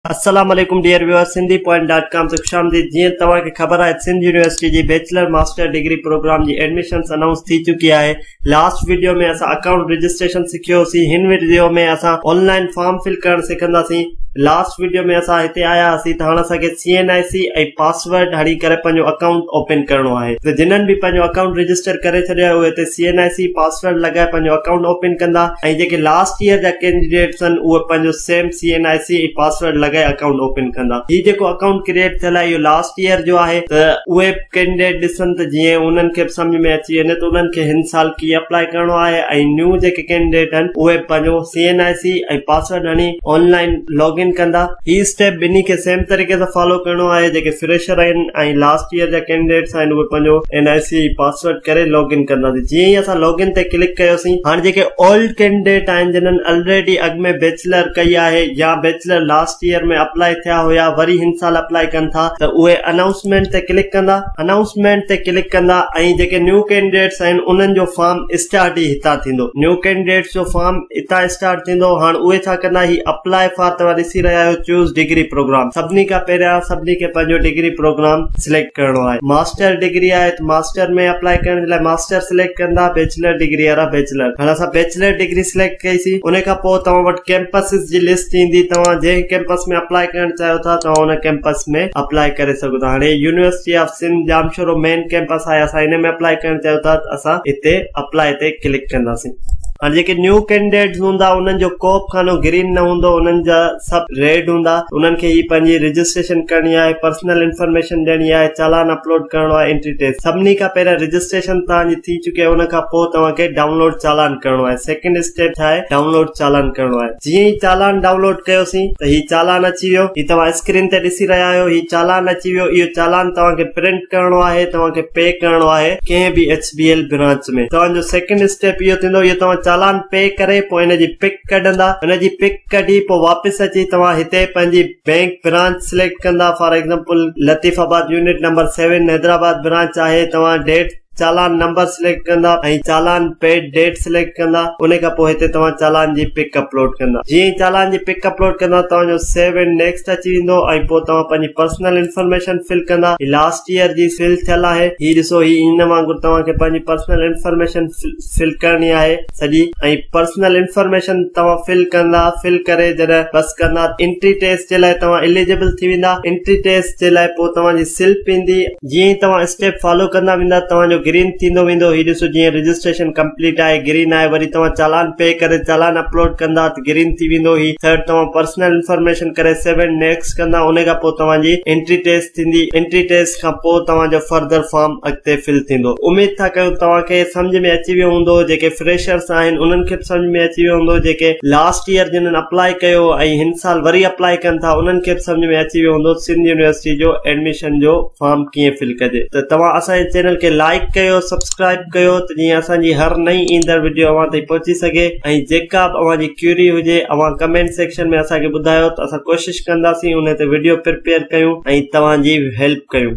السلام عليڪم dear viewers Sindhi point dot com تي خوش آمديد جيئن توهان کي خبر آهي ته سنڌ يونيورسٽي جي بيچلر ماسٽر ڊگري پروگرام جي ايڊميشنز انائونس ٿي چڪي آهي لاسٽ وڊيو ۾ اسان اڪائونٽ رجسٽريشن سکيو هوسين هن وڊيو ۾ اسان آن لائن فارم فل ڪرڻ سکنداسين لاسٽ وڊيو ۾ اسان هتي آيا هاسين ته هاڻ اسان کي C N I C ۽ pass password هڻي ڪري پنهنجو اڪائونٽ اوپن ڪرڻو آهي ته جنھن به پنهنجو اڪائونٽ رجسٽر ڪري ڇڏيو آهي اهي هتي C N I C password لڳائي پنهنجو اڪائونٽ اوپن ڪندا ۽ جيڪي لاسٽ ييئر جا ڪينڊيڊيٽس آهن اهي پنهنجو same C N I C ۽ password لڳائي اڪائونٽ اوپن ڪندا هي جيڪو اڪائونٽ ڪريئيٽ ٿيل آهي اهو لاسٽ ييئر جو آهي ته اهي به ڪينڊيڊيٽ ڏسن ته جيئن انهن کي به سمجهه ۾ اچي وڃي ته انهن کي هن سال ڪيئن اپلائي ڪرڻو آهي ۽ نيو جيڪي ڪينڊيڊيٽ آهن اهي به پنهنجو C N I C ۽ password هڻي آن لائن لاگ ان ڪندا. هي اسٽيپ ٻنهي کي سيم طريقي سان فالو ڪرڻو آهي جيڪي فريشر آهن ۽ لاسٽ ايئر جا ڪينڊيڊيٽس آهن اهي پنهنجو اين آء سي پاسورڊ ڪري لاگ ان ڪندا سين جيئن ئي اسان لاگ ان تي ڪلڪ ڪيوسين هاڻ جيڪي اولڊ ڪينڊيڊيٽ آهن جنھن الريڊي اڳ ۾ بيچلر ڪئي آهي يا بيچلر لاسٽ ايئر ۾ اپلائي ٿيا هيا وري هن سال اپلائي ڪن ٿا ته اهي انائونسمينٽ تي ڪلڪ ڪندا انائونسمينٽ تي ڪلڪ ڪندا ۽ جيڪي نيو ڪينڊيڊيٽس آهن انهن جو فارم اسٽارٽ ئي هتان ٿيندو نيو ڪينڊيڊيٽس جو فارم هتان اسٽارٽ ٿيندو هاڻ اهي ڇا ڪندا هي اپلاء فار توهان ڏسي رهيا آهيو چوز ڊگري پروگرام سڀني کان پهريان سڀني کي پنهنجو ڊگري پروگرام سليڪٽ ڪرڻو آهي ماسٽر ڊگري آهي ته ماسٽر ۾ اپلاء ڪرڻ جي لاء ماسٽر سليڪٽ ڪندا بيچلر ڊگري وارا بيچلر هاڻ اسان بيچلر ڊگري سليڪٽ ڪئي سي ان کان پوء توهان وٽ ڪيمپسز جي لسٽ ايندي توهان جنهن ڪيمپس ۾ اپلاء ڪرڻ چاهيو ٿا توهان ان ڪيمپس ۾ اپلاء ڪري سگهو ٿا هاڻي university of Sindh Jamshoro main campus آهي اسان ان ۾ اپلاء ڪرڻ چاهيو ٿا اسان هتي اپلاء تي ڪلڪ ڪنداسين هاڻي جيڪي نيو ڪينڊيڊيٽس هوندا انهن جو ڪوبه خانو گرين نه هوندو انهن جا سڀ ريڊ هوندا انهن کي هي پنهنجي رجسٽريشن ڪرڻي آهي پرسنل انفارميشن ڏيڻي آهي چالان اپلوڊ ڪرڻو آهي انٽري ٽيڪس سڀني کان پهريان رجسٽريشن توهان جي ٿي چڪي ان کان پوء توهان کي ڊائونلوڊ چالان ڪرڻو آهي سيڪنڊ اسٽيپ ڇا آهي ڊائونلوڊ چالان ڪرڻو آهي جيئن ئي چالان ڊائونلوڊ ڪيوسين ته هي چالان اچي ويو هي توهان اسڪرين تي ڏسي رهيا آهيو هي چالان اچي ويو اهو چالان توهان کي پرنٽ ڪرڻو آهي توهان کي پي ڪرڻو آهي ڪنهن به ايڇ بي ايل برانچ ۾ توهان جو سيڪنڊ اسٽيپ اهو ٿيندو اهو توهان چالان پي ڪري پوء ان جي پڪ ڪڍندا ان جي پڪ ڪڍي پوء واپس اچي توهان هتي پنهنجي بينڪ برانچ سليڪٽ ڪندا for example Latifabad unit number seven Hyderabad branch آهي توهان ڊيٽ چالان نمبر سليڪٽ ڪندا ۽ چالان پيڊ ڊيٽ سليڪٽ ڪندا ان کان پوء هتي توهان چالان جي پڪ اپلوڊ ڪندا جيئن ئي چالان جي پڪ اپلوڊ ڪندا توهان جو سيو اينڊ نيڪسٽ اچي ويندو ۽ پوء توهان پنهنجي پرسنل انفارميشن فل ڪندا هي لاسٽ ييئر جي فل ٿيل آهي هي ڏسو هي ان وانگر توهان کي پنهنجي پرسنل انفارميشن فل ڪرڻي آهي سڄي ۽ پرسنل انفارميشن توهان فل ڪندا فل ڪري جڏهن بس ڪندا انٽري ٽيسٽ جي لاء توهان اليجبل ٿي ويندا انٽري ٽيسٽ جي لاء پوء توهان جي سلپ ايندي جيئن ئي توهان اسٽيپ فالو ڪندا ويندا توهان جو گرين ٿيندو ويندو هي ڏسو جيئن رجسٽريشن ڪمپليٽ آهي گرين آهي وري توهان چالان پي ڪري چالان اپلوڊ ڪندا ته گرين ٿي ويندو هي ٿرڊ توهان پرسنل انفارميشن ڪري سيو اينڊ نيڪسٽ ڪندا انهي کان پوء توهان جي انٽري ٽيسٽ ٿيندي انٽري ٽيسٽ کان پوء توهان جو فردر فارم اڳتي فل ٿيندو اميد ٿا ڪيون توهان کي سمجهه ۾ اچي ويو هوندو جيڪي فريشرس آهن انهن کي به سمجهه ۾ اچي ويو هوندو جيڪي لاسٽ يير جنن اپلائي ڪيو ۽ هن سال وري اپلائي ڪن ٿا انهن کي به سمجهه ۾ اچي ويو هوندو سنڌ يونيورسٽي جو ايڊميشن ڪويشن جو فارم ڪيئن فل ڪجي ته توهان اسان جي چينل کي لائيڪ ڪيو سبسڪرائيب ڪيو ته جيئن اسان جي هر نئين ايندڙ وڊيو اوهان تائين پهچي سگهي ۽ جيڪا به اوهان جي ڪيوري هجي اوهان ڪمينٽ سيڪشن ۾ اسان کي ٻڌايو ته اسان ڪوشش ڪنداسين انهي تي وڊيو پرپيئر ڪيون ۽ توهان جي هيلپ ڪيون.